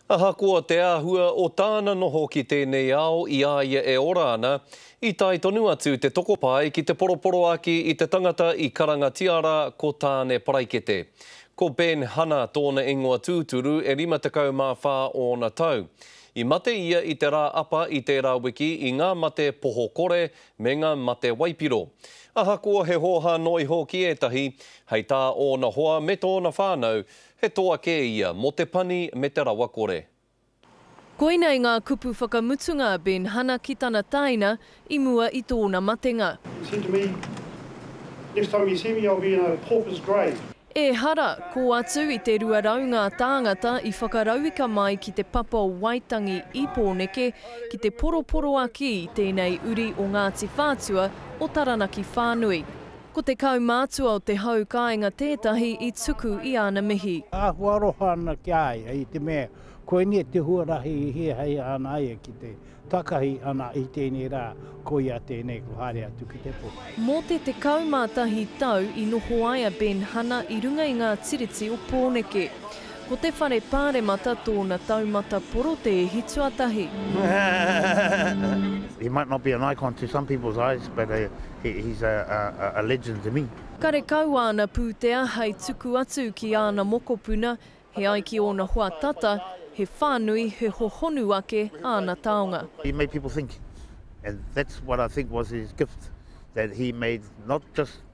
Ahakoa te āhua o tāna noho ki tēnei ao i a ia e ora ana, i tae tonu atu te tokopae ki te poroporoaki i te tangata i karangatia rā ko Tāne Paraikete. Ko Ben Hana tōna ingoa tūturu, e 54 ōna tau. I mate ia i te rā apa i tērā wiki i ngā mate poho kore me ngā mate waipiro. Ahakoa he hōhā noa iho ki ētahi, hei tā ōna hoa me tōna whānau, He toa kē ia mō te pani me te rawakore. Koinei ngā kupu whakamutunga a Ben Hana ki tana tāina i mua i tōna matenga. He said to me, Next time you see me I'll be in a pauper's grave. Ehara, ko atu i te 200 ngā tāngata i whakarauika mai ki te papa o Waitangi i Pōneke ki te poroporoaki i tēnei uri o Ngāti Whātua o Taranaki whānui. Ko te kaumātua o te hau kāinga tētahi i tuku i āna mihi. Āhua aroha ana ki a ia i te mea koinei te huarahi i hiahia ana ai ki te takahi ana i tēnei rā, koia tēnei kua haere atu ki te pō. Mō te 11 tau i noho ai a Ben Hana i runga i ngā Tiriti o Pōneke. Ko te whare paremata tōna taumata porotēhi tuatahi. He might not be an icon to some people's eyes but he's a legend to me. Karekau āna pūtea hei tuku atu ki āna mokopuna, he ai ki ōna hoa tata, he whānui, he hohonu ake āna taonga. He made people think and that's what I think was his gift that he made not just.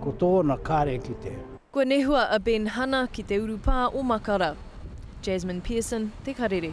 Ko tōna kare ki te. Kua nehua a Ben Hana ki te urupā o Makara. Jasmine Pearson, Te Karere.